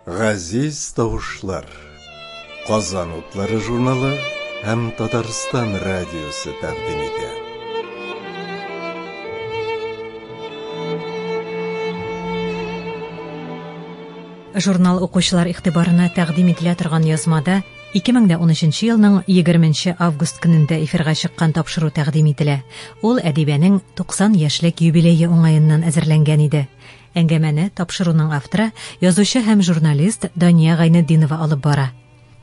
Газиз тавышлар. Казан утлары журналы һәм Татарстан радиосы тәкъдим итә. Журнал укучылар игътибарына тәкъдим ителә торган язмада Ике мең дә унөченче елның егерменче август көнендә эфирга чыккан тапшыру тәкъдим ителә. Ул Әдибәнең 90 яшьлек юбилее уңаеннан әзерләнгән иде. Әңгәмәне тапшыруның авторы, язучы һәм журналист Дания Гайнетдинова алып бара.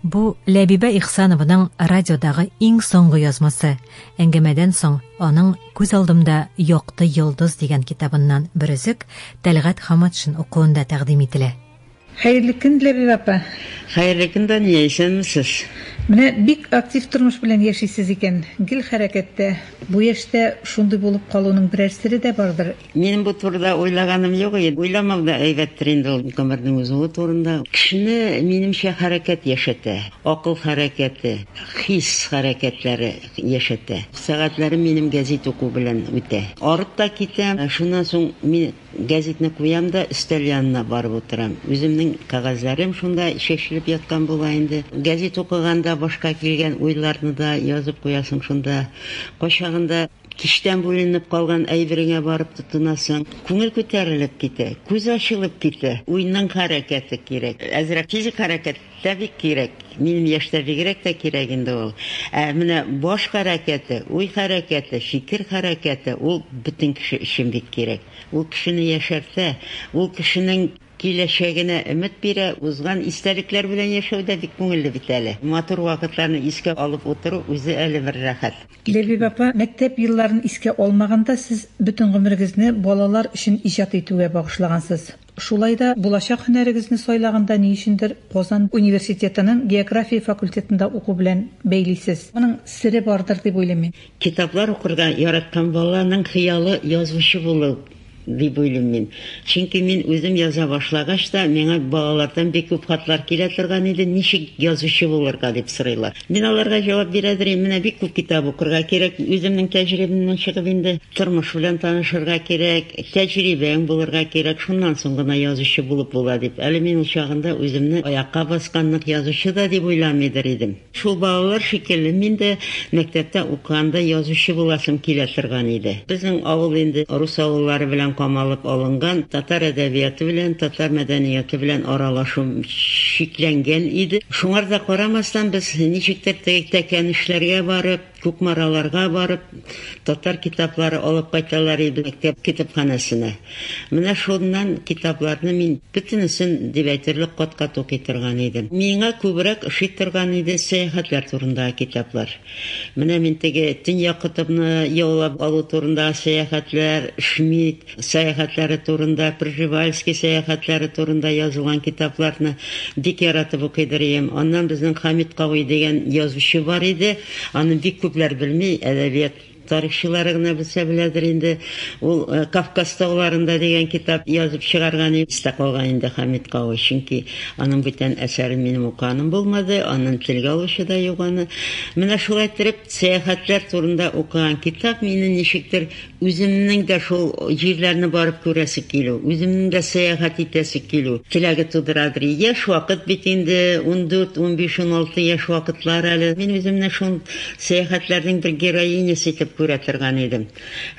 Бу, Ләбибә Ихсанованың радиодагы иң соңгы язмасы. Әңгәмәдән соң аның Күз алдымда якты йолдыз дигән китабыннан бер өзек Тәлгать Хаматшин укуында тәкъдим ителә. Хәерле көн, Диләбибә апа! Хәерле көн, Дания, исәнмесез! Менә бик актив тормыш белән яшисез икән, гел хәрәкәттә. Бу яшьтә шундый булып калуның берәр сере дә бардыр? Минем бу турыда уйлаганым юк иде. Уйламау да әйбәттер инде ул гомернең узуы турында. Кешене, минемчә, хәрәкәт яшәтә. Акыл хәрәкәте, хис хәрәкәтләре яшәтә. Сәгатьләрем минем гәзит уку белән үтә. Арып та китәм. Шуннан соң мин. Гәзитне куям да, өстәл янына барып утырам. Үземнең кәгазьләрем шунда чәчелеп яткан була инде. Гәзит укыганда башка килгән уйларны да язып куясың шунда. Кайчагында кичтән бүленеп калган әйбереңә барып тотынасың. Күңел күтәрелеп китә, күз ачылып китә. Уйның хәрәкәте кирәк. Әзрәк физик хәрәкәт Тәбик кирәк. Минем яшьтә бигрәк тә кирәк инде ул. Ә менә баш хәрәкәте, уй хәрәкәте, фикер хәрәкәте, ул бөтен кеше өчен бик кирәк. Ул кешене яшәртә, ул кешенең киләчәгенә өмет бирә. Узган истәлекләр белән яшәү дә бик күңелле бит әле. Матур вакытларны искә алып утыру үзе әле бер рәхәт. Ләбиб апа, мәктәп елларын искә алмаганда, сез бөтен гомерегезне балалар өчен иҗат итүгә багышлагансыз. Шулай да булачак һөнәрегезне сайлаганда ни өчендер Казан университетының география факультетында уку белән бәйлисез. Моның сере бардыр дип уйлыйм мин. Китаплар укырга яраткан баланың хыялы язучы булу дип уйлыйм мин. Чөнки мин үзем яза башлагач та, миңа балалардан бик күп хатлар килә торган иде, ничек язучы булырга дип сорыйлар. Мин аларга җавап бирә дерим, менә бик күп китап укырга кирәк, үземнең тәҗрибемнән чыгып инде, тормыш белән танышырга кирәк, тәҗрибәң булырга кирәк, шуннан соң гына язучы булып була дип. Әле мин ул чагында үземне аякка баскан нык язучы да дип уйламыйдыр идем. Шул балалар шикелле мин дә мәктәптә укыганда язучы буласым килә торган иде. Безнең авыл инде рус авыллары белән камалып алынган, татар әдәбияты белән, татар мәдәнияты белән аралашу шикләнгән иде. Шуңар да карамастан, без ничектер теге Тәкәнешләргә барып, Кукмараларга барып, татар китаплары алып кайталар иде мәктәп китапханәсенә. Менә шуннан китапларны мин бөтенесен дип әйтерлек кат-кат укый торган идем. Миңа күбрәк ошый торган иде сәяхәтләр турындагы китаплар. Менә мин теге Төньяк котыбны яулап алу турындагы сәяхәтләр, Шмидт, сәяхәтләре турында, Пржевальский сәяхәтләре турында язылган китапларны бик яратып укыйдыр ием. Аннан безнең Хамит Кавый дигән язучы бар иде. Аны бик күпләр белми, әдәбият тарихчылары гына белсә беләдер инде. Ул э, Кавказ тауларында дигән китап язып чыгарган иде. Истә калган инде Хамит Кавы, чөнки аның бүтән әсәрен минем уканым булмады, анын телгә алучы да юк аны. Менә шулай иттереп, сәяхәтләр турында укыган китап мине ничектер Үземнең дә шул җирләрне барып күрәсе килү, үземнең дә сәяхәт итәсе килү теләге тудырадыр. Яшь вакыт бит инде, ундүрт, унбиш, уналты яшь вакытлар әле. Мин үземне шул сәяхәтләрнең бер героинясы итеп күрә торган идем.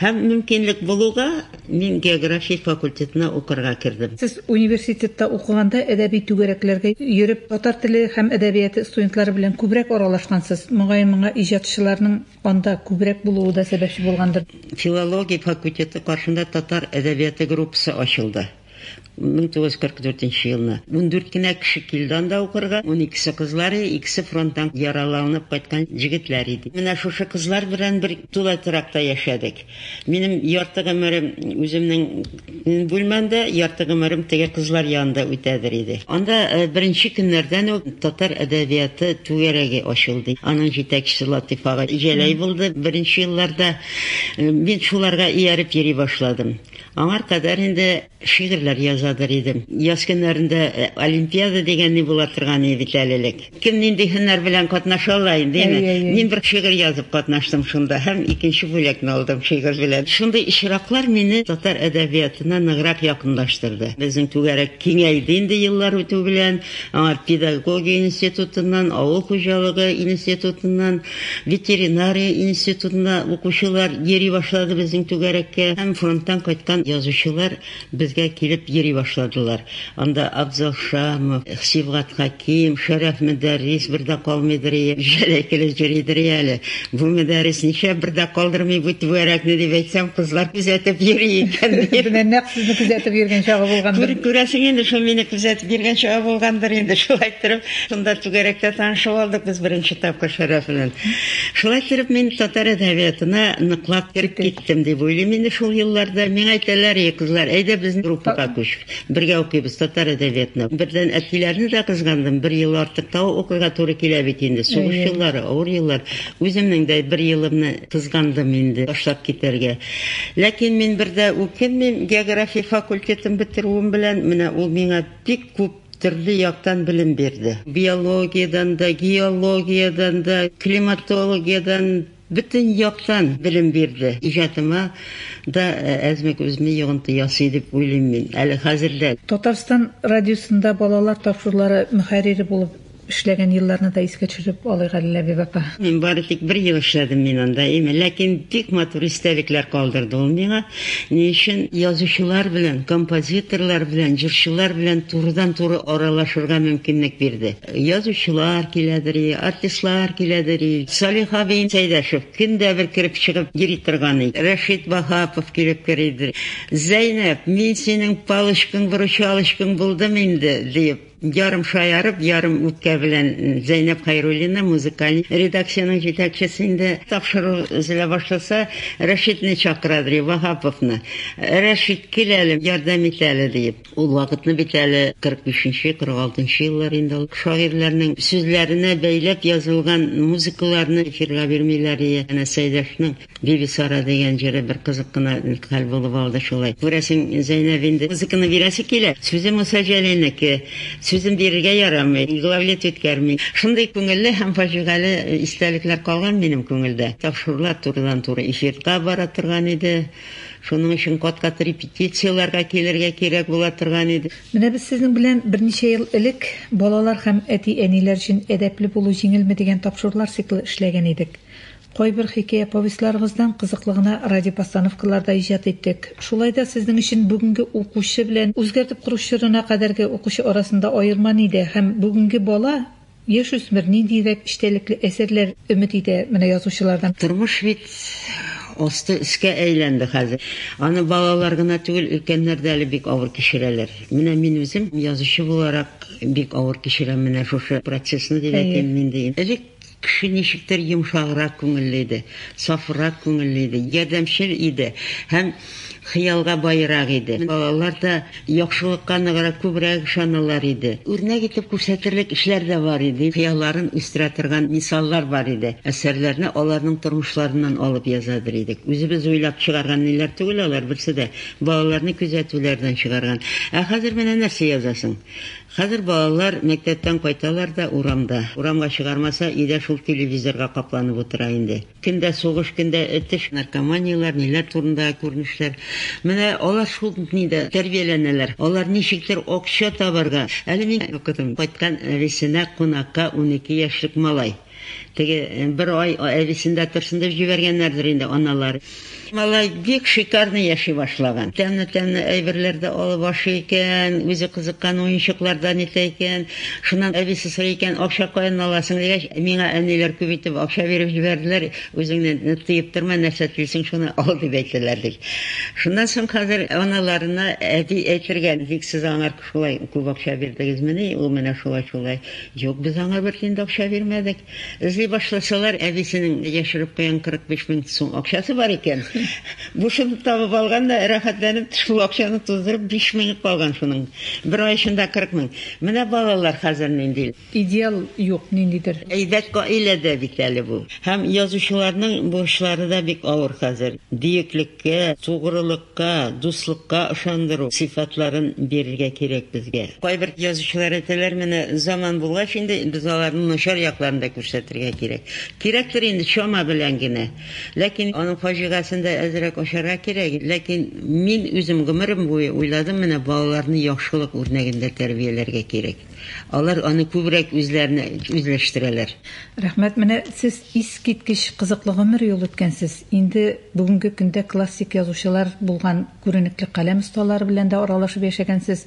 Һәм мөмкинлек булуга, мин география факультетына укырга кердем. Сез университетта укыганда әдәби түгәрәкләргә йөреп, татар теле һәм әдәбияты студентлары белән күбрәк аралашкансыз. Мөгаен, моңа иҗатчыларның. Анда күбрәк булуы да сәбәпче булгандыр. Филология факультеты каршында татар әдәбияты группасы ачылды. 1944 нче елны. Ундүрт кенә кеше килде анда укырга. Уникесе кызлар, икесе фронттан яраланып кайткан җегетләр иде. Менә шушы кызлар белән бер тулай торакта яшәдек. Минем ярты гомерем үземнең бүлмәмдә, ярты гомерем теге кызлар янында үтәдер иде. Анда беренче көннәрдән үк татар әдәбияты түгәрәге ачылды. Аның җитәкчесе Латыйфага Җәләй булды беренче елларда. Мин шуларга ияреп йөри башладым. Аңар кадәр инде. Шигырьләр язадыр идем. Яз көннәрендә олимпиада дигән ни була торган иде бит әле элек. Кем нинди һөнәр белән катнаша ала инде, әйме? Әйе, әйе. Мин бер шигырь язып катнаштым шунда һәм икенче бүләкне алдым шигырь белән. Шундый очраклар мине татар әдәбиятына ныграк якынлаштырды. Безнең түгәрәк киңәйде инде еллар үтү белән. Аңа педагогия институтыннан, авыл хуҗалыгы институтыннан, Ветеринария институтына укучылар йөри башлады безнең түгәрәккә һәм фронттан кайткан язучылар безгә килеп йөри башладылар. Анда Абзал Шамов, Сибгат Хәким, Шәрәф Мөдәррис бер дә калмыйдырые, Җәләй килеп йөридерие әле. Бу Мөдәррис ничә бер дә калдырмый бу түгәрәкне дип әйтсәм, кызлар күзәтеп йөри икән, ди. Менә нәкъ сезне күзәтеп йөргән чагы булгандыр. Күр, күрәсең инде, шул мине күзәтеп йөргән чагы булгандыр инде, шулай иттереп Шунда түгәрәктә танышып алдык без беренче тапкыр Шәрәф белән. Шулай итеп, мин татар әдәбиятына ныклап кереп киттем дип уйлыйм инде шул елларда. Миңа әйтәләр, Эй, кызлар, әйдә безнең группага күч. Бергә укыйбыз татар әдәбиятына. Бердән, әтиләрне дә кызгандым, бер ел артык та укырга туры килә бит инде. Сугыш еллары, авыр еллар. Үземнең дә бер елымны кызгандым инде ташлап китәргә. Ләкин мин бер дә үкенмим, география факультетын бетерүем белән менә ул миңа бик күп Төрле яктан белем бирде. Биологиядән дә, геологиядән дә, климатологиядән, бөтен яктан белем бирде. Иҗатыма да әзмәк үзенә йогынты ясый дип уйлыйм мин, әле хәзер дә. Татарстан радиосында балалар тапшырулары мөхәррире булып Эшләгән елларны да искә төшереп алыйк әле, Ләбиб апа. Мин бары тик бер ел эшләдем мин анда, эме, ләкин бик матур истәлекләр калдырды ул миңа. Ни өчен? Язучылар белән, композиторлар белән, җырчылар белән турыдан-туры аралашырга мөмкинлек бирде. Язучылар киләдер и, артистлар киләдер и. Салих абый Сәйдәшев көн дә бер кереп-чыгып йөри торган и. Рәшит Ваһапов килеп керидер и. Зәйнәб, мин синең палочкаң-выручалочкаң булдым инде, диеп. Ярым шаярып, ярым үпкә белән Зәйнәп Хәйруллина, музыкаль редакциянең җитәкчесе инде, тапшыру өзелә башласа, Рәшитне чакыра, ди, Ваһаповны. Рәшит, кил әле, ярдәм ит әле, диеп. Ул вакытны бит әле 45 нче, 46 нчы еллар инде ул. Шагыйрьләрнең сүзләренә бәйләп язылган музыкаларны эфирга бирмиләр, янәсе, Айдашның. Бибисара дигән җыры бер кызык кына хәл булып алды шулай. Күрәсең, Зәйнәб инде музыканы бирәсе килә. Сүзе Муса Җәлилнеке. Сүзен бирергә ярамый, главлит үткәрми. Шундый күңелле һәм фаҗигале истәлекләр калган минем күңелдә. Тапшырулар турыдан-туры эфирга бара торган иде. Шуның өчен кат-кат репетицияләргә килергә кирәк була торган иде. Менә без сезнең белән берничә ел элек Балалар һәм әти-әниләр өчен әдәпле булу җиңелме дигән тапшырулар циклы эшләгән идек. Кайбер хикәя-повестьларыгыздан кызыклы гына радиопостановкалар да иҗат иттек. Шулай да сезнең өчен бүгенге укучы белән үзгәртеп кору чорына кадәрге укучы арасында аерма нидә һәм бүгенге бала, яшүсмер ниндиерәк эчтәлекле әсәрләр өмет итә менә язучылардан? Тормыш бит асты өскә әйләнде хәзер. Аны балалар гына түгел, өлкәннәр дә әле бик авыр кичерәләр. Менә мин үзем язучы буларак бик авыр кичерәм менә шушы процессны дип әйтим инде. Элек Кеше ничектер йомшаграк күңелле иде, сафрак күңелле иде, ярдәмчел иде һәм хыялга баерак иде. Балалар да яхшылыкка ныграк, күбрәк ышаналар иде. Үрнәк итеп күрсәтерлек эшләр дә бар иде, хыялларын үстерә торган мисаллар бар иде. Әсәрләрне аларның тормышларыннан алып язадыр идек. Үзебез уйлап чыгарган ниләр түгел алар, берсе дә балаларны күзәтүләрдән чыгарган. Ә хәзер менә нәрсә язасың. Хәзер балалар мәктәптән кайталар да урамда. Урамга чыгармаса, өйдә шул телевизорга капланып утыра инде. Көн дә сугыш, көн дә этеш, наркоманияләр, ниләр турындагы күренешләр. Менә алар шулпни дә тәрбияләнәләр. Алар ничектер акча табарга. Әле мин укыдым, кайткан әбисенә кунакка унике яшьлек малай. Теге бер ай әбисендә торсын дип җибәргәннәрдер инде аналар. Малай бик шикарный яши башлаган. Тәмле-тәмле әйберләр дә алып ашый икән, үзе кызыккан уенчыклардан итә икән. Шуннан әбисе сорый икән, акча каян аласың дигәч, миңа әниләр күп итеп акча биреп җибәрделәр, үзеңне тыеп торма, нәрсә телисең, шуны ал дип әйтәләр, ди. Шуннан соң хәзер аналарына әби әйтергә бик сез аңар Шулай күп акча бирдегезмени ул менә шулай шулай? Юк, без аңа бер тиен дә акча бирмәдек. Эзли башласалар, әбисенең яшереп куйган 45 мең сум акчасы бар икән. Бушын табып алган да, рәхәтләнеп шул акчаны туздырып, биш меңе калган шуның. Бер ай эчендә 40 мең. Менә балалар хәзер нинди. Идеал юк ниндидер. Әйбәт гаилә дә бит әле бу. Һәм язучыларның бурычлары да бик авыр хәзер. Бөеклеккә, тугрылыкка, дуслыкка ышандыру сыйфатларын бирергә кирәк безгә. Кайбер язучылар әйтәләр, менә заман булгач инде, без аларның начар якларын да күрсәтергә кирәк. Кирәктер инде, чама белән генә. Ләкин аның фаҗигасен дә әзрәк ачарга кирәк. Ләкин мин үзем гомерем буе уйладым, менә балаларны яхшылык үрнәгендә тәрбияләргә кирәк. Алар аны күбрәк үзләренә үзләштерәләр. Рәхмәт, менә сез искиткеч кызыклы гомер юл үткәнсез. Инде бүгенге көндә классик язучылар булган күренекле каләм осталары белән дә аралашып яшәгәнсез.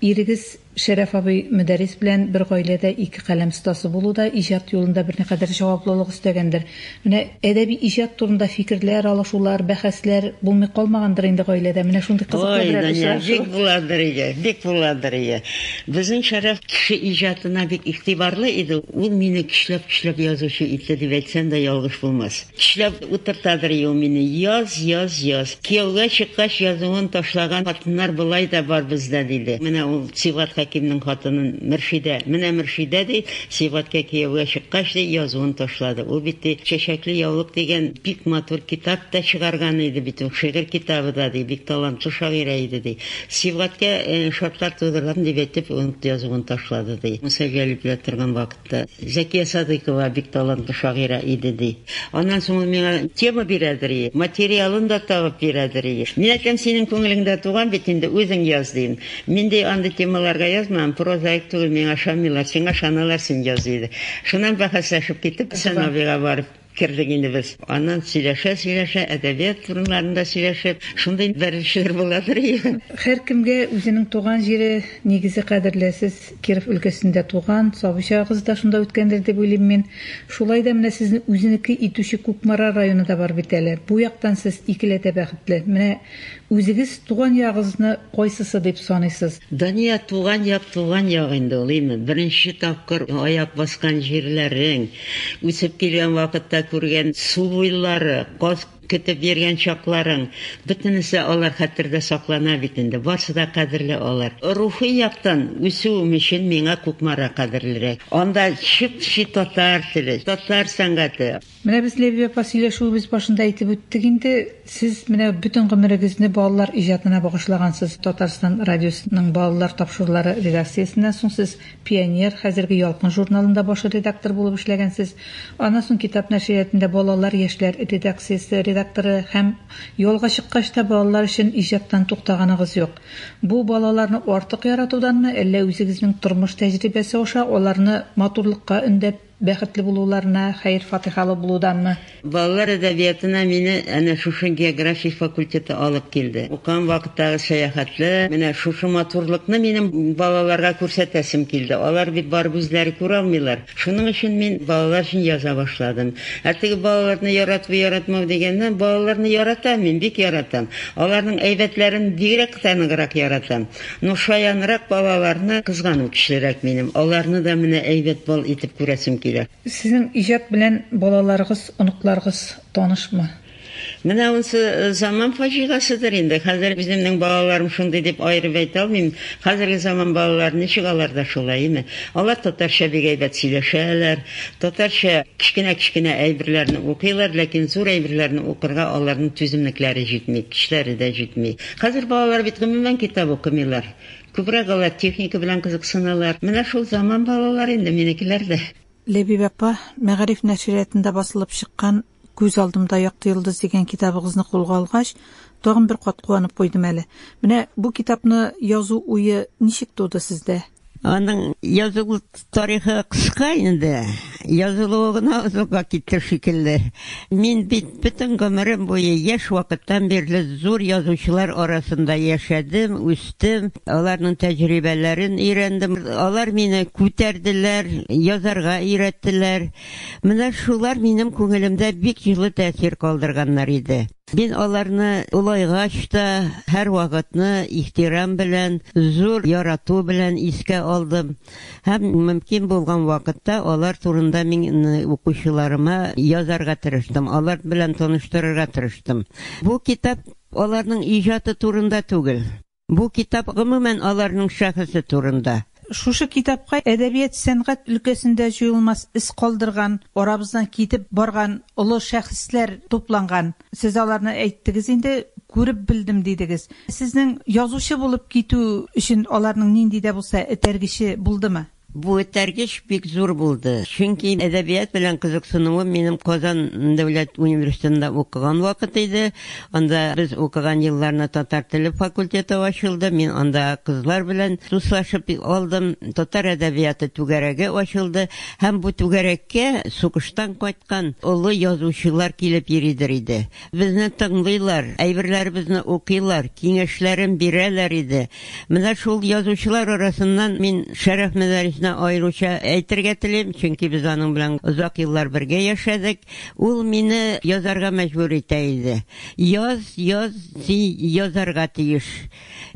Ирегез Шәрәф абый Мөдәррис белән бер гаиләдә ике каләм остасы булу да иҗат юлында берникадәр җаваплылык өстәгәндер. Менә әдәби иҗат турында фикерләр алышулар, бәхәсләр булмый калмагандыр инде гаиләдә? Менә шундый кызыклы берәр очрашу. Ой, Даня, бик буладыр иде, бик буладыр иде. Безнең Шәрәф кеше иҗатына бик игътибарлы иде. Ул мине көчләп-көчләп язучы итте дип әйтсәм дә ялгыш булмас. Көчләп утыртадыр иде ул мине, яз, яз, яз. Кияүгә чыккач, язуын ташлаган хатыннар болай да бар бездә, диде. Менә ул Сибгат Хәкимнең хатынын Мөршидә, менә Мөршидә, ди. Сибгатькә кияүгә чыккач, ди, язуын ташлады. Ул бит, ди, Чәчәкле яулык дигән бик матур китап та чыгарган иде бит ул, шигырь китабы да, ди, бик талантлы шагыйрә иде, ди. Сибгаткә шартлар тудырам дип әйтеп, язуын ташлады, ди. Муса Җәлил белән торган вакытта Зәкия Садыйкова бик талантлы шагыйрә иде, ди. Аннан соң ул миңа тема бирәдер ие, материалын да табып бирәдер ие. Мин әйтәм, синең күңелеңдә туган бит инде, үзең яз, дим. Мин ди андый темаларга язмам, прозаик түгел, миңа ышанмыйлар, сиңа ышаналар, син яз, диде. Шуннан бәхәсләшеп китеп, Сановига барып кердек инде без. Аннан сөйләшә-сөйләшә, әдәбият урыннарында сөйләшеп, шундый бәрелешләр буладыр и. Һәркемгә үзенең туган җире нигезе кадерле. Сез Киров өлкәсендә туган, сабый чагыгыз да шунда үткәндер дип уйлыйм мин. Шулай да менә сезне үзенеке итүче Кукмара районы да бар бит әле. Бу яктан сез икеләтә бәхетле. Менә Үзегез туган ягыгызны кайсысы дип саныйсыз? Дания, туган як туган як инде ул, име, беренче тапкыр аяк баскан җирләрең, үсеп килгән вакытта күргән су буйлары, каз көтеп йөргән чакларың, бөтенесе алар хәтердә саклана бит инде, барсы да кадерле алар. Рухи яктан үсүем өчен миңа Кукмара кадерлерәк. Анда чып-чи татар теле, татар сәнгате. Менә без Ләбиб апа сөйләшүебез башында әйтеп үттек инде, сез менә бөтен гомерегезне балалар иҗатына багышлагансыз. Татарстан радиосының балалар тапшырулары редакциясеннән соң сез Пионер, хәзерге Ялкын журналында баш редактор булып эшләгәнсез. Аннан соң Китап нәшриятында балалар, яшьләр редакциясе редакторы һәм ялга чыккач та балалар өчен иҗаттан туктаганыгыз юк. Бу балаларны артык яратуданмы, әллә үзегезнең тормыш тәҗрибәсе аша аларны матурлыкка өндәп, Бәхетле булуларына, хәер-фатыйхалы булуданмы? Балалар әдәбиятына мине әнә шушы география факультеты алып килде. Укыган вакыттагы сәяхәтле, менә шушы матурлыкны минем балаларга күрсәтәсем килде. Алар бит барып үзләре күрә алмыйлар. Шуның өчен мин балалар өчен яза башладым. Ә теге балаларны ярату-яратмау дигәннән, балаларны яратам мин, бик яратам. Аларның әйбәтләрен бигрәк тә ныграк яратам. Ну шаянрак балаларны кызгану кичерерәк минем, аларны да менә әйбәт бал итеп күрәсем килә. Сезнең иҗат белән балаларыгыз, оныкларыгыз танышмы? Менә унсы заман фаҗигаседер инде, хәзер үземнең балаларым шундый дип аерып әйтә алмыйм. Хәзерге заман балалары ничек алар да шулай име? Алар татарча бик әйбәт сөйләшәләр, татарча кечкенә-кечкенә әйберләрне укыйлар, ләкин зур әйберләрне укырга аларның түземлекләре җитми, көчләре дә җитми. Хәзер балалар бит гомумән китап укымыйлар. Күбрәк алар техника белән кызыксыналар. Менә шул заман балалары инде минекеләр дә. Ләбиб апа, Мәгариф нәшриятында басылып чыккан Күз алдымда якты йолдыз дигән китабыгызны кулга алгач, тагын бер кат куанып куйдым әле. Менә бу китапны язу уе ничек туды сездә? Аның язылу тарихы кыска инде. Язылуы гына озакка китте шикелле. Мин бит бөтен гомерем буе яшь вакыттан бирле зур язучылар арасында яшәдем, үстем, аларның тәҗрибәләрен өйрәндем. Алар мине күтәрделәр, язарга өйрәттеләр. Менә шулар минем күңелемдә бик җылы тәэсир калдырганнар иде. Мин аларны олайгач та һәрвакытны ихтирам белән, зур ярату белән искә алдым һәм мөмкин булган вакытта алар турында мин укучыларыма язарга тырыштым, алар белән таныштырырга тырыштым. Бу китап аларның иҗаты турында түгел. Бу китап гомумән аларның шәхесе турында. Шушы китапка әдәбият-сәнгать өлкәсендә җуелмас эз калдырган, арабыздан китеп барган олы шәхесләр тупланган. Сез аларны әйттегез инде, күреп белдем дидегез. Сезнең язучы булып китү өчен аларның нинди дә булса этәргече булдымы? Бу этәргеч бик зур булды, чөнки әдәбият белән кызыксынуым минем Казан дәүләт университетында укыган вакыт иде. Анда без укыган елларны татар теле факультеты ачылды, мин анда кызлар белән дуслашып алдым, татар әдәбияты түгәрәге ачылды һәм бу түгәрәккә сугыштан кайткан олы язучылар килеп йөридер иде. Безне тыңлыйлар, әйберләребезне укыйлар, киңәшләрен бирәләр иде. Менә шул язучылар арасыннан мин Шәрәф Мәдәрисне аеруча әйтергә телим, чөнки без аның белән озак еллар бергә яшәдек. Ул мине язарга мәҗбүр итә иде. Яз, яз, син язарга тиеш.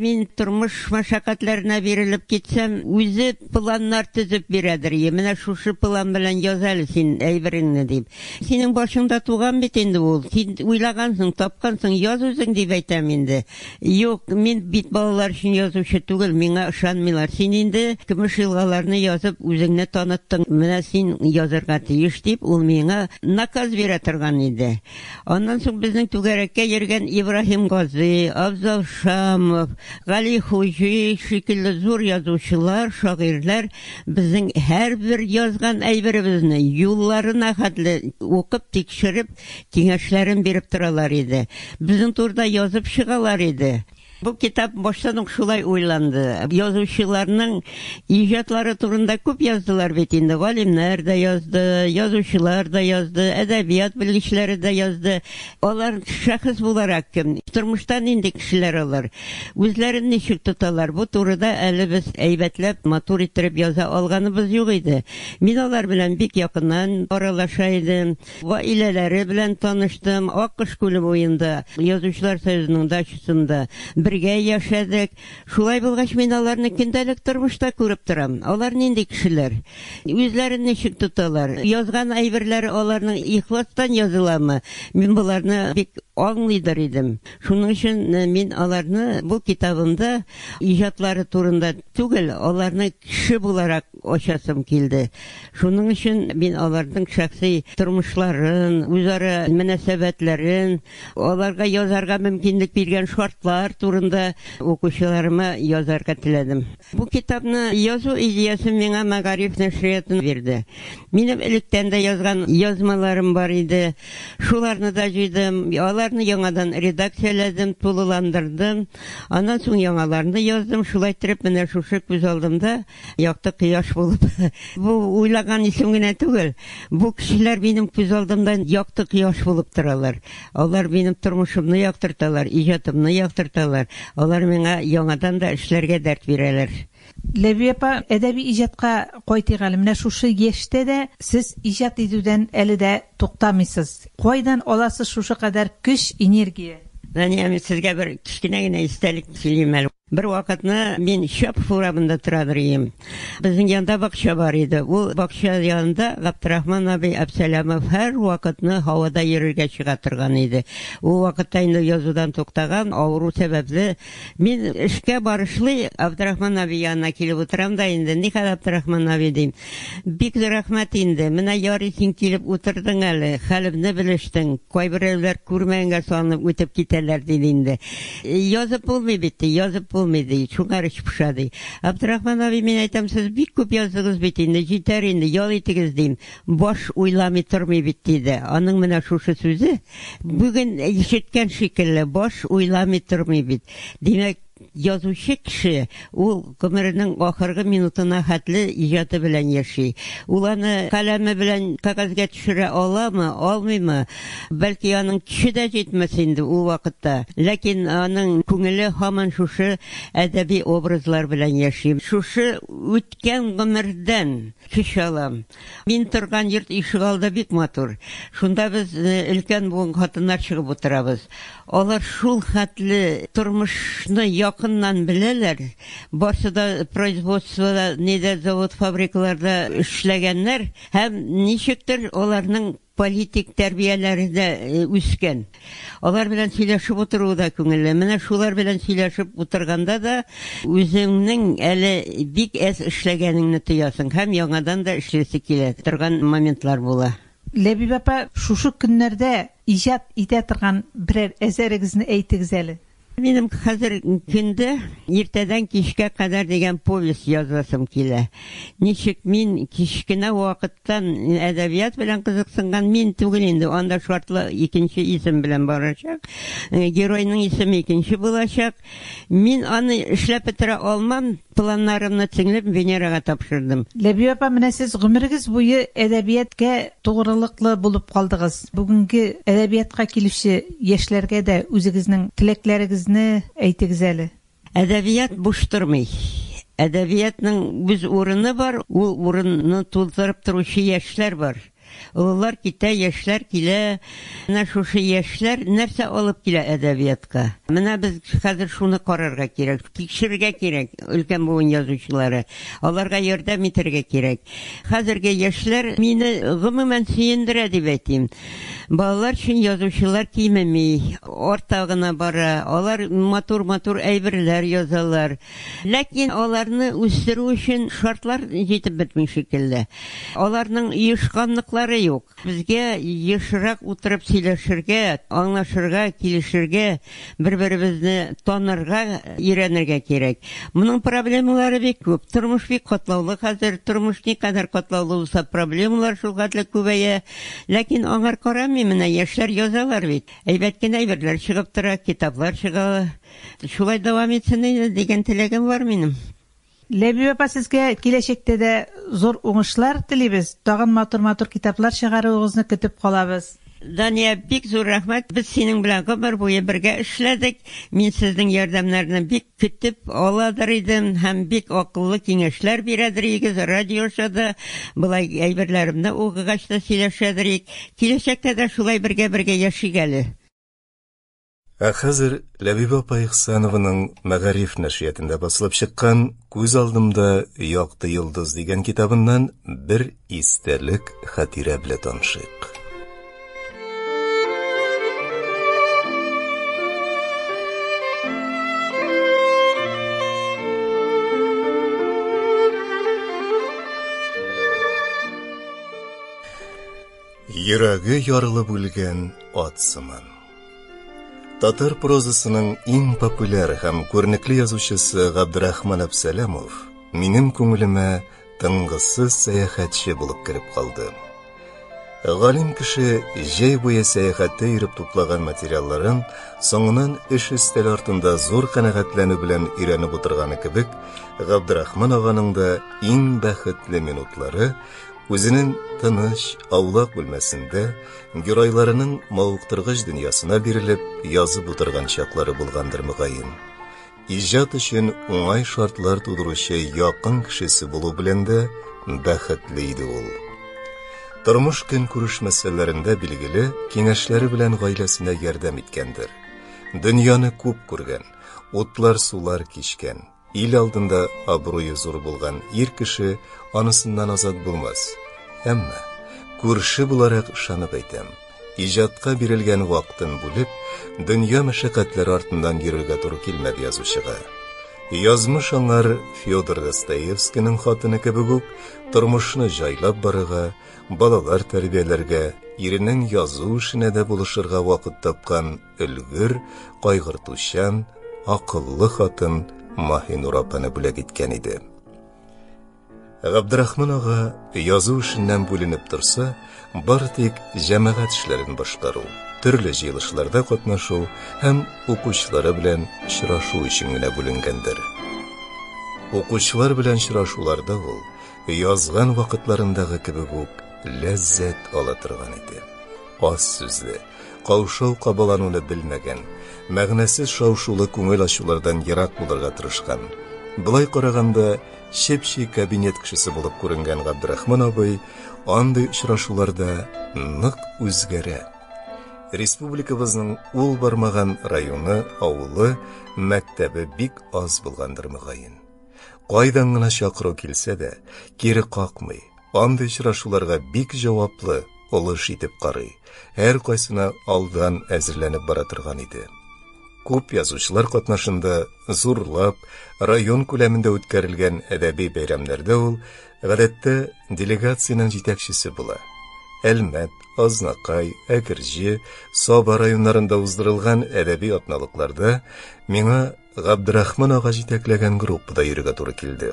Мин тормыш мәшәкатьләренә бирелеп китсәм, үзе планнар төзеп бирәдер, Ие, менә шушы план белән яз әле син әйбереңне, дип. Синең башыңда туган бит инде ул, син уйлагансың, тапкансың, яз үзең, дип әйтәм инде. Юк, мин бит балалар өчен язучы түгел, миңа ышанмыйлар. Син инде көмеш елгаларны язып, үзеңне таныттың, менә син язырга тиеш, дип, ул миңа наказ бирә торган иде. Аннан соң безнең түгәрәккә йөргән Ибраһим Гази, Абзал Шамов, Гали Хуҗи шикелле зур язучылар, шагыйрьләр безнең һәрбер язган әйберебезне юлларына хәтле укып, тикшереп, киңәшләрен биреп торалар иде. Безнең турыда язып чыгалар иде. Бу китап баштан ук шулай уйланды. Язучыларның иҗатлары турында күп яздылар бит инде, галимнәр дә язды, язучылар да язды, әдәбият белгечләре дә язды. Алар шәхес буларак кем? Тормышта нинди кешеләр алар? Үзләрен ничек тоталар? Бу турыда әле без әйбәтләп, матур иттереп яза алганыбыз юк иде. Мин алар белән бик якыннан аралаша идем. Гаиләләре белән таныштым, Аккош күле буенда, Язучылар союзының дачасында бергә яшәдек. Шулай булгач, мин аларны көндәлек тормышта күреп торам. Алар нинди кешеләр? Үзләрен ничек тоталар? Язган әйберләре аларның ихластан языламы? Мин боларны бик аңлыйдыр идем. Шуның өчен мин аларны бу китабымда иҗатлары турында түгел, аларны кеше буларак ачасым килде. Шуның өчен мин аларның шәхси тормышларын, үзара мөнәсәбәтләрен, аларга язарга мөмкинлек биргән шартлар турында укучыларыма язарга теләдем. Бу китапны язу идеясен миңа Мәгариф нәшрияты бирде. Минем электән дә язган язмаларым бар иде. Шуларны да җыйдым, аларны яңадан редакцияләдем, тулыландырдым. Аннан соң яңаларны яздым. Шулай иттереп, менә шушы күз алдымда. Якты кояш булып. Бу уйлаган исем генә түгел. Бу кешеләр минем күз алдымда якты кояш булып торалар. Алар минем тормышымны яктырталар, иҗатымны яктырталар. Алар миңа яңадан да эшләргә дәрт бирәләр. Ләви апа, әдәби иҗатка кайтыйк әле. Менә шушы яшьтә дә сез иҗат итүдән әле дә туктамыйсыз. Кайдан аласыз шушы кадәр көч, энергия? Дания, мин сезгә бер кечкенә генә истәлек сөйлим әле. Бер вакытны мин Чапов урамында торадыр ием. Безнең янда бакча бар иде. Ул бакча янында Габдрахман абый Абсәләмов һәрвакытны һавада йөрергә чыга торган иде. Ул вакытта инде язудан туктаган, авыру сәбәпле. Мин эшкә барышлый Абдрахман абый янына килеп утырам да инде, Никадә Абдрахман абый, дим, Бик зур рәхмәт инде. Менә ярый син килеп утырдың әле, хәлемне белештең. Кайберәүләр күрмәгәнгә салынып үтеп китәләр, диде инде. Язып булмый бит, ди, язып булмый, ди, шуңар эч поша, ди. Абдрахман абый, мин әйтәм, сез бик күп яздыгыз бит инде, җитәр инде, ял итегез, дим. Баш уйламый тормый бит, диде. Аның менә шушы сүзе бүген ишеткән шикелле, баш уйламый тормый бит. Димәк, Язучы кеше, ул гомеренең ахыргы минутына хәтле иҗаты белән яши. Ул аны каләме белән кәгазьгә төшерә аламы, алмыймы, бәлки аның көче дә җитмәс инде ул вакытта, ләкин аның күңеле һаман шушы әдәби образлар белән яши. Шушы үткән гомердән көч алам. Мин торган йорт ишегалды бик матур. Шунда без өлкән буын хатыннар чыгып утырабыз. Алар шул хәтле тормышны якыннан беләләр. Барсы да производствода, нидә, завод-фабрикаларда эшләгәннәр һәм ничектер аларның. политик тәрбияләрдә үскән. Алар белән сөйләшеп утыруы да күңелле. Менә шулар белән сөйләшеп утырганда да үзеңнең әле бик әз эшләгәнеңне тоясың һәм яңадан да эшлисе килә торган моментлар була. Ләбиб апа, шушы көннәрдә иҗат итә торган берәр әсәрегезне әйтегез әле. Минем хәзерге көндә Иртәдән кичкә кадәр дигән повесть язасым килә. Ничек мин кечкенә вакыттан әдәбият белән кызыксынган, мин түгел инде, анда шартлы икенче исем белән барачак. Геройның исеме икенче булачак. Мин аны эшләп бетерә алмам. Планнарымны тиңләп Венерага тапшырдым. Ләбибә апа, менә сез гомерегез буе әдәбияткә тугрылыклы булып калдыгыз. Бүгенге әдәбиятка килүче яшьләргә дә үзегезнең теләкләрегезне әйтегез әле. Әдәбият буш тормый. Әдәбиятның үз урыны бар, ул урынны туздырып торучы яшьләр бар. Олылар китә, яшьләр килә. Менә шушы яшьләр нәрсә алып килә әдәбиятка? Менә без хәзер шуны карарга кирәк, тикшерергә кирәк, өлкән буын язучылары. Аларга ярдәм итәргә кирәк. Хәзерге яшьләр мине, гомумән, сөендерә дип әйтим. Балалар өчен язучылар кимеми, арта гына бара. Алар матур-матур әйберләр язалар. Ләкин аларны үстерү өчен шартлар җитеп бетми шикелле. Аларның оешканлыклары юк. Безгә ешрак утырып сөйләшергә, аңлашырга, килешергә, бер-беребезне танырга өйрәнергә кирәк. Моның проблемалары бик күп. Тормыш бик катлаулы хәзер. Тормыш никадәр катлаулы булса, проблемалар шулхәтле күбәя. Ләкин аңар карамыйм, менә яшьләр язалар бит. Әйбәт кенә әйберләр чыгып тора, китаплар чыга. Шулай дәвам итсен иде дигән теләгем бар минем. Ләбиб апа сезгә киләчәктә дә зур уңышлар телибез, тагын матур матур китаплар чыгаруыгызны көтеп калабыз. Дания бик зур рәхмәт, без синең белән гомер буе бергә эшләдек, мин сезнең ярдәмнәрне бик көтеп аладыр идем һәм бик акыллы киңәшләр бирәдер игез, радиоша да болай әйберләремне укыгач та сөйләшәдер ик, киләчәктә дә шулай бергә бергә яшик әле. Ә хәзер Ләбибә апа Ихсанованың Мәгариф нәшриятында басылып чыккан Күз алдымда якты йолдыз дигән китабыннан бер истәлек хатирә белә танышыйк. Йөрәге ярылып үлгән ат сыман. Татар прозасының иң популяр һәм күренекле язучысы Габдрахман Абсәләмов минем күңелемә тынгысыз сәяхәтче булып кереп калды. Галим кеше җәй буе сәяхәттә йөреп туплаган материалларын соңынан эш өстәле артында зур канәгатьләнү белән өйрәнеп утырганы кебек, Габдрахман аганың да иң бәхетле минутлары үзенең тыныч, аулак бүлмәсендә, геройларының мавыктыргыч дөньясына бирелеп язып утырган чаклары булгандыр мөгаен. Иҗат өчен уңай шартлар тудыручы якын кешесе булу белән дә бәхетле иде ул. Тормыш көн күреш мәсьәләләрендә билгеле киңәшләре белән гаиләсенә ярдәм иткәндер. Дөньяны күп күргән, утлар-сулар кичкән. Ил алдында абруе зур булган ир кеше анысыннан азат булмас. Әмма күрше буларак ышанып әйтәм, иҗатка бирелгән вакытын бүлеп, дөнья мәшәкатьләре артыннан йөрергә туры килмәде язучыга. Язмыш аңар Федор Достоевскийның хатыны кебек үк тормышны җайлап барырга, балалар тәрбияләргә, иренең язу эшенә дә булышырга вакыт тапкан өлгер, кайгыртучан, акыллы хатын Маһинур апаны бүләк иткән иде. Габдрахман ага язу эшеннән бүленеп торса, бары тик җәмәгать эшләрен башкару, төрле җыелышларда катнашу һәм укучылары белән очрашу өчен генә бүленгәндер. Укучылар белән очрашуларда ул язган вакытларындагы кебек үк ләззәт ала торган иде. Аз сүзле, каушау-кабалануны белмәгән, мәгънәсез шау-шулы күңел ачулардан ерак булырга тырышкан. Былай караганда, чеп-чи кабинет кешесе булып күренгән Габдрахман абый андый очрашуларда нык үзгәрә. Республикабызның ул бармаган районы, авылы, мәктәбе бик аз булгандыр мөгаен. Кайдан гына чакыру килсә дә, кире какмый, Андый очрашуларга бик җаваплы, олы эш итеп карый. Һәр кайсына алдан әзерләнеп бара торган иде. Күп язучылар катнашында зурлап, район күләмендә үткәрелгән әдәби бәйрәмнәрдә ул, гадәттә, делегациянең җитәкчесе була. Әлмәт, Азнакай, Әкерҗе, Саба районнарында уздырылган әдәби атналыкларда миңа Габдрахман ага җитәкләгән группада йөрергә туры килде.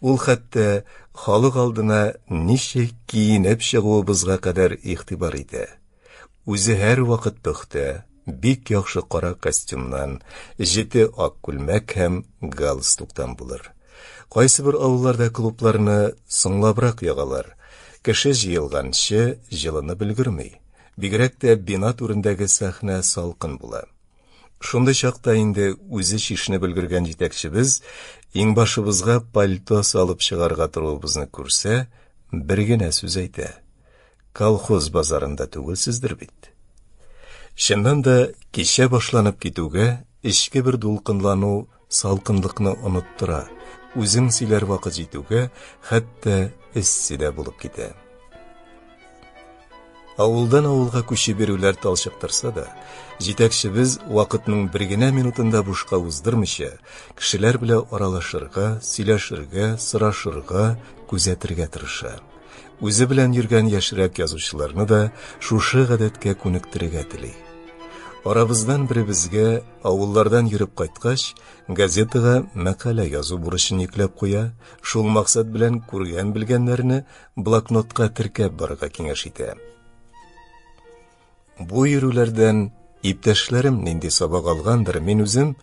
Ул хәтта халык алдына ничек киенеп чыгуыбызга кадәр игътибар итә. Үзе һәрвакыт пөхтә, бик яхшы кара костюмнан, җете ак күлмәк һәм галстуктан булыр. Кайсыбер авылларда клубларны соңлабрак ягалар. Кеше җыелганчы җылынып өлгерми. Бигрәк тә бина түрендәге сәхнә салкын була. Шундый чакта инде үзе чишенеп өлгергән җитәкчебез иңбашыбызга пальто салып чыгарга торуыбызны күрсә, бер генә сүз әйтә. Колхоз базарында түгелсездер бит. Чыннан да, кичә башланып китүгә, эчке бер дулкынлану Салкынлыкны оныттыра, үзең сөйләр вакыт җитүгә, хәтта эссе дә булып китә. Авылдан авылга күчеп йөрүләр талчыктырса да, җитәкчебез вакытның бер генә минутында бушка уздырмыйча, кешеләр белә аралашырга, сөйләшергә, сорашырга, күзәтергә тырыша. Үзе белән йөргән яшьрәк язучыларны да шушы гадәткә күнектерергә тели. Арабыздан беребезгә Авыллардан йөреп кайткач, газетага мәкалә язу бурычын йөкләп куя, шул максат белән күргән-белгәннәрне блокнотка теркәп барырга киңәш итә. Бу йөрүләрдән иптәшләрем нинди сабак алгандыр, мин үзем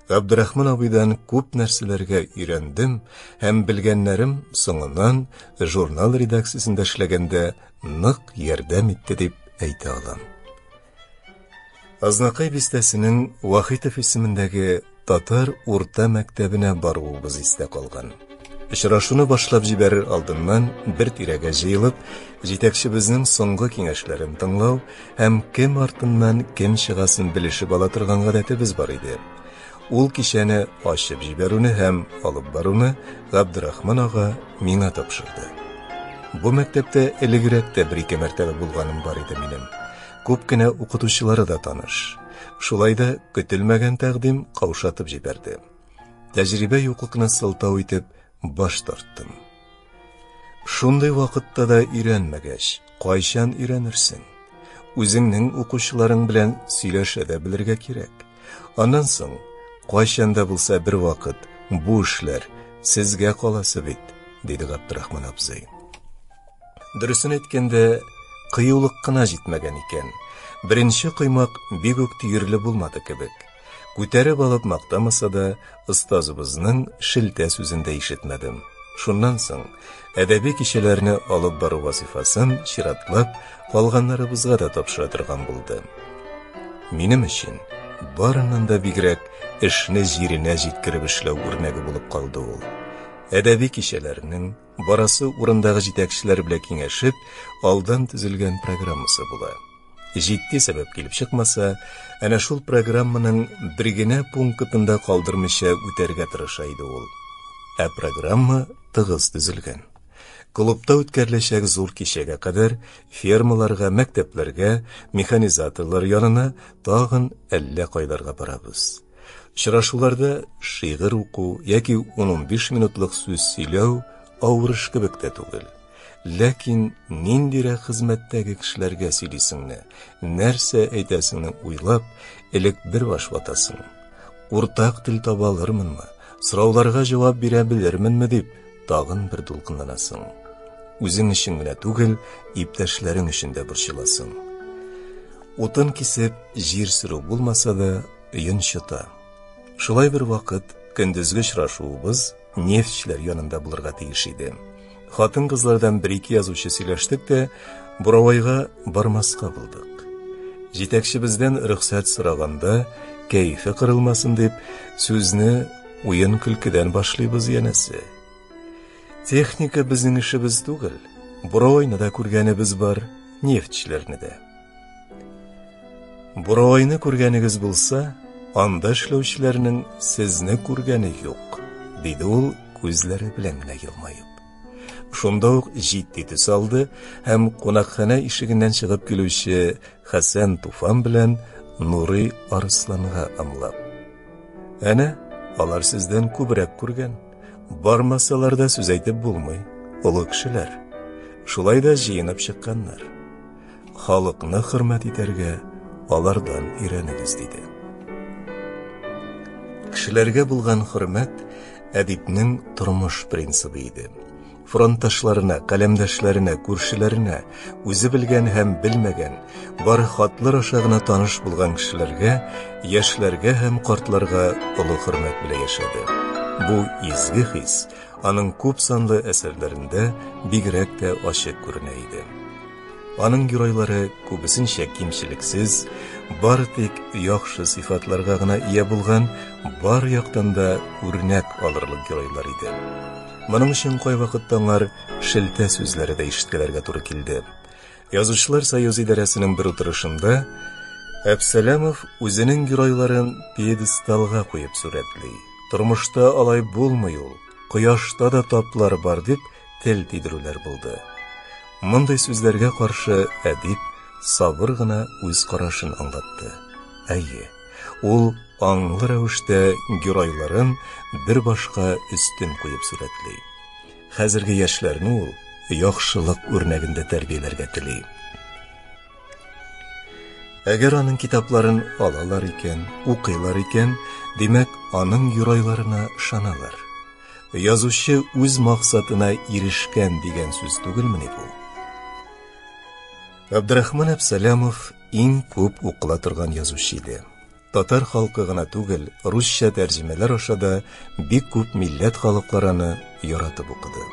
Габдрахман абыйдан күп нәрсәләргә өйрәндем һәм белгәннәрем соңыннан журнал редакциясендә эшләгәндә нык ярдәм итте дип әйтә алам. Азнакай бистәсенең Вахитов исемендәге татар урта мәктәбенә баруыбыз истә калган. Очрашуны башлап җибәрер алдыннан бер тирәгә җыелып, җитәкчебезнең соңгы киңәшләрен тыңлау һәм кем артыннан кем чыгасын белешеп ала торган гадәтебез бар иде. Ул кичәне ачып җибәрүне һәм алып баруны Габдрахман ага миңа тапшырды. Бу мәктәптә элегрәк тә бер-ике мәртәбә булганым бар иде минем. Күп кенә укытучылары да таныш. Шулай да көтелмәгән тәкъдим каушатып җибәрде. Тәҗрибә юклыкны сылтау итеп баш тарттым. Шундый вакытта да өйрәнмәгәч, кайчан өйрәнерсең? Үзеңнең укучыларың белән сөйләшә дә белергә кирәк. Аннан соң, кайчан да булса бер вакыт бу эшләр сезгә каласы бит, диде Габдрахман абзый. Дөресен әйткәндә, кыюлык кына җитмәгән икән. Беренче коймак бик үк төерле булмады кебек. Күтәреп алып мактамаса да, остазыбызның шелтә сүзен дә ишетмәдем. Шуннан соң әдәби кичәләрне алып бару вазифасын чиратлап калганнарыбызга да тапшыра торган булды. Минем өчен барыннан да бигрәк эшне җиренә җиткереп эшләү үрнәге булып калды ул. Әдәби кичәләрнең Барасы урындагы җитәкчеләр белән киңәшеп, алдан төзелгән программасы була. Җитди сәбәп килеп чыкмаса, әнә шул программаның бер генә пунктында калдырмыйча үтәргә тырыша иде ул. Ә программа тыгыз төзелгән. Клубта үткәреләчәк зур кичәгә кадәр фермаларга, мәктәпләргә, механизаторлар янына тагын әллә кайларга барабыз. Очрашуларда шигырь уку яки 10-15 минутлык сүз сөйләү авыр эш кебек тә түгел. Ләкин ниндирәк хезмәттәге кешеләргә сөйлисеңне, нәрсә әйтәсеңне уйлап, элек бер баш ватасың. Уртак тел таба алырмынмы, сорауларга җавап бирә белерменме дип, тагын бер дулкынланасың. Үзең өчен генә түгел, иптәшләрең өчен дә борчыласың. Утын кисеп, җир сөрү булмаса да, Өен чыта. Шулай бер вакыт көндезге очрашуыбыз нефтьчеләр янында булырга тиеш иде. Хатын-кызлардан бер-ике язучы сөйләштек тә, Буравайга бармаска булдык. Җитәкчебездән рөхсәт сораганда, кәефе кырылмасын дип, сүзне уен-көлкедән башлыйбыз янәсе. Техника безнең эшебез түгел. Буровойны да күргәнебез бар, нефтьчеләрне дә. Буровойны күргәнегез булса, анда эшләүчеләрнең сезне күргәне юк, диде ул күзләре белән генә елмаеп. Шунда ук җитди төс алды һәм кунакханә ишегеннән чыгып килүче Хәсән Туфан белән Нурый Арысланга ымлап. Әнә, алар сездән күбрәк күргән. Бармасалар да сүз әйтеп булмый. Олы кешеләр. Шулай да җыенып чыкканнар. Халыкны хөрмәт итәргә алардан өйрәнегез, диде. Кешеләргә булган хөрмәт әдипнең тормыш принцибы иде. Фронтташларына, каләмдәшләренә, күршеләренә, үзе белгән һәм белмәгән, бары хатлар аша гына таныш булган кешеләргә, яшьләргә һәм картларга олы хөрмәт белән яшәде. Бу изге хис аның күп санлы әсәрләрендә бигрәк тә ачык күренә иде. Аның геройлары күбесенчә кимчелексез, бары тик яхшы сыйфатларга гына ия булган, бар яктан да үрнәк алырлык геройлар иде. Моның өчен кайвакытта аңар шелтә сүзләре дә ишеткәләргә туры килде. Язучылар союзы идарәсенең бер утырышында Әпсәләмов үзенең геройларын пьедесталга куеп сурәтли. Тормышта алай булмый ул, кояшта да таплар бар, дип, тел тидерүләр булды. Мондый сүзләргә каршы әдип сабыр гына үз карашын аңлатты. Әйе, ул аңлы рәвештә геройларын бер башка өстен куеп сурәтли. Хәзерге яшьләрне ул яхшылык үрнәгендә тәрбияләргә тели. Әгәр аның китапларын алалар икән, укыйлар икән, димәк, аның юрайларына шаналар. язучы үз максатына ирешкән дигән сүз түгелмени бу? Абдрахман Абсалямов иң күп укыла торган язучы иде. Татар халкы гына түгел, русча тәрҗемәләр аша да бик күп милләт халыклараны яратып укыды.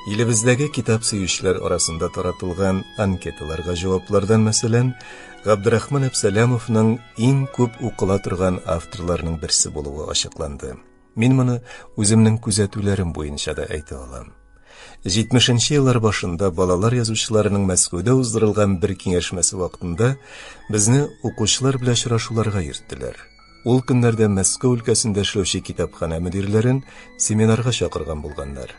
Илебездәге китап сөючеләр арасында таратылган анкеталарга җаваплардан, мәсәлән, Габдрахман Әпсәләмовның иң күп укыла торган авторларының берсе булуы ачыкланды. Мин моны үземнең күзәтүләрем буенча да әйтә алам. 70-нче еллар башында балалар язучыларының Мәскәүдә уздырылган бер киңәшмәсе вакытында безне укучылар белән очрашуларга йөрттеләр. Ул көннәрдә Мәскәү өлкәсендә эшләүче китапханә мөдирләрен семинарга чакырган булганнар.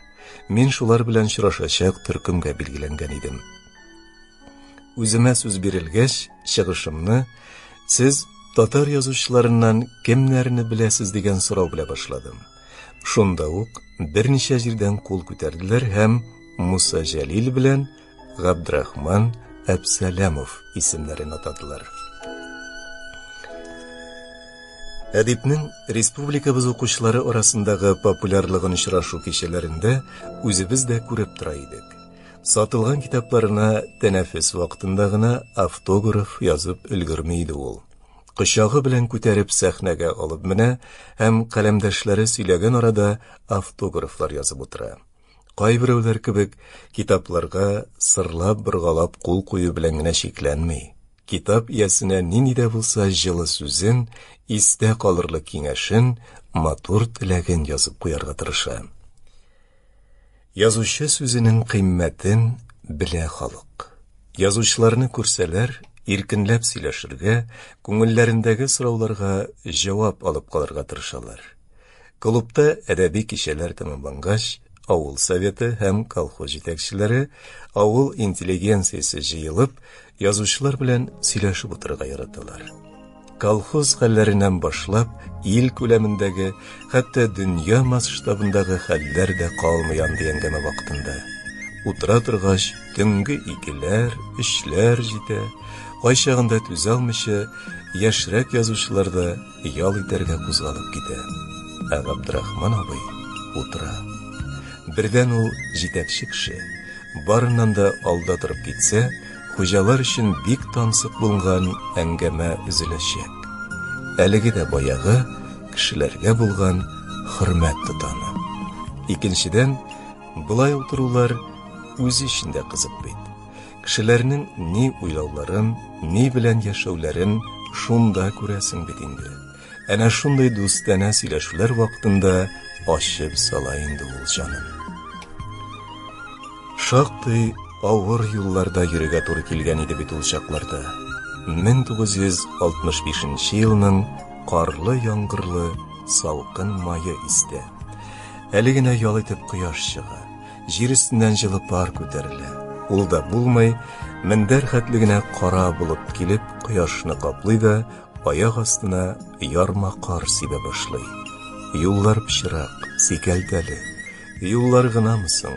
Мин шулар белән очрашачак төркемгә билгеләнгән идем. Үземә сүз бирелгәч, чыгышымны сез татар язучыларыннан кемнәрне беләсез дигән сорау белә башладым. Шунда ук берничә җирдән кул күтәрделәр һәм Муса Җәлил белән Габдрахман Әбсәләмов исемнәрен атадылар. Әдипнең республикабыз укучылары арасындагы популярлыгын очрашу кичәләрендә үзебез дә күреп тора идек. Сатылган китапларына тәнәфес вакытында гына автограф язып өлгерми иде ул. Кочагы белән күтәреп сәхнәгә алып менә һәм каләмдәшләре сөйләгән арада автографлар язып утыра. Кайберәүләр кебек китапларга сырлап боргалап кул кую белән генә чикләнми. Китап иясенә нинди дә булса җылы сүзен, истә калырлык киңәшен, матур теләген язып куярга тырыша. Язучы сүзенең кыйммәтен белә халык. Язучыларны күрсәләр, иркенләп сөйләшергә, күңелләрендәге сорауларга җавап алып калырга тырышалар. Клубта әдәби кичәләр тәмамлангач, авыл советы һәм колхоз җитәкчеләре, авыл интеллигенциясе җыелып, Язучылар белән сөйләшеп утырырга яраталар. Колхоз хәлләреннән башлап, ил күләмендәге, хәтта дөнья масштабындагы хәлләр дә калмый андый әңгәмә вакытында. Утыра торгач, төнге икеләр, өчләр җитә, кайчагында түзә алмыйча, яшьрәк язучылар да, ял итәргә кузгалып китә, ә Габдрахман абый утыра. Бердән ул, җитәкче кеше, барыннан да алда торып китсә, хуҗалар өчен бик тансык булган әңгәмә өзеләчәк. Әлеге дә баягы кешеләргә булган хөрмәт тотаны. Икенчедән, болай утырулар үзе өчен дә кызык бит. Кешеләрнең ни уйлауларын, ни белән яшәүләрен шунда күрәсең бит инде. Әнә шундый дустанә сөйләшүләр вакытында ачып сала инде ул җанын. Шактый авыр юлларда йөрергә туры килгән иде бит ул чакларда. 1965 елның карлы яңгырлы салкын мае истә. Әле генә ял итеп кояш чыга. Җир өстеннән җылы пар күтәрелә. Ул да булмый, мендәр хәтле генә кара болыт килеп, кояшны каплый да, аяк астына ярма кар сибә башлый. Юллар пычрак, сикәлтәле. Юллар гынамы соң?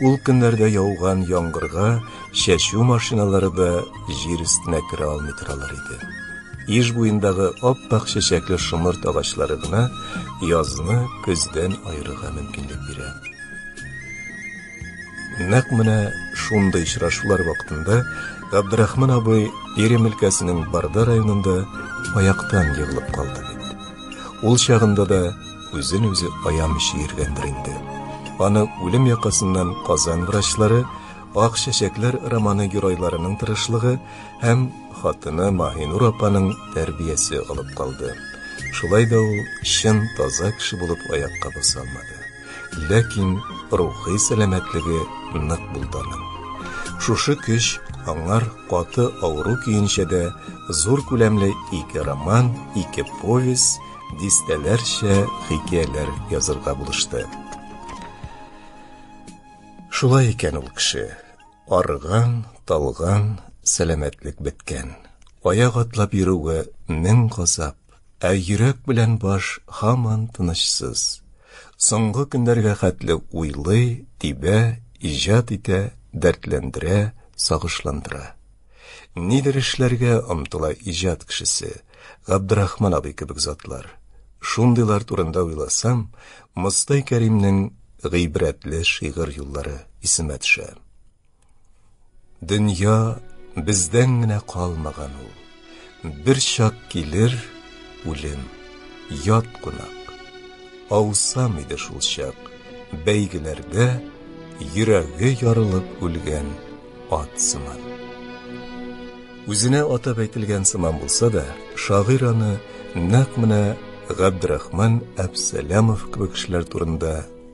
Ул көннәрдә яуган яңгырга чәчү машиналары да җир өстенә керә алмый торалар иде. Иж буендагы ап-ак чәчәкле шомырт агачлары гына язны көздән аерырга мөмкинлек бирә. Нәкъ менә шундый очрашулар вакытында Габдрахман абый Пермь өлкәсенең Барда районында аяктан егылып калды бит. Ул чагында да үзен үзе аямыйча йөргәндер инде. Аны үлем якасыннан Казан врачлары, Ак чәчәкләр романы геройларының тырышлыгы һәм хатыны Маһинур апаның тәрбиясе алып калды. Шулай да ул чын таза кеше булып аякка баса алмады. Ләкин рухи сәламәтлеге нык булды аның. Шушы көч аңар каты авыру көенчә дә зур күләмле ике роман, ике повесть, дистәләрчә хикәяләр язырга булышты. Шулай икән ул кеше. Арыган, талган, сәламәтлек беткән. Аяк атлап йөрүгә мең газап. Ә йөрәк белән баш һаман тынычсыз. Соңгы көннәргә хәтле уйлый, тибә, иҗат итә, дәртләндерә, сагышландыра. Нидер эшләргә омтыла иҗат кешесе, Габдрахман абый кебек затлар. Шундыйлар турында уйласам, Мостай Кәримнең гыйбрәтле шигырь юллары исемә төшә. Дөнья бездән генә калмаган ул. Бер чак килер үлем, ят кунак. Аусам иде шул чак бәйгеләргә йөрәге ярылып үлгән ат сыман. Үзенә атап әйтелгән сыман булса да, шагыйрь аны нәкъ менә Габдрахман Әпсәләмов кебек кешеләр турында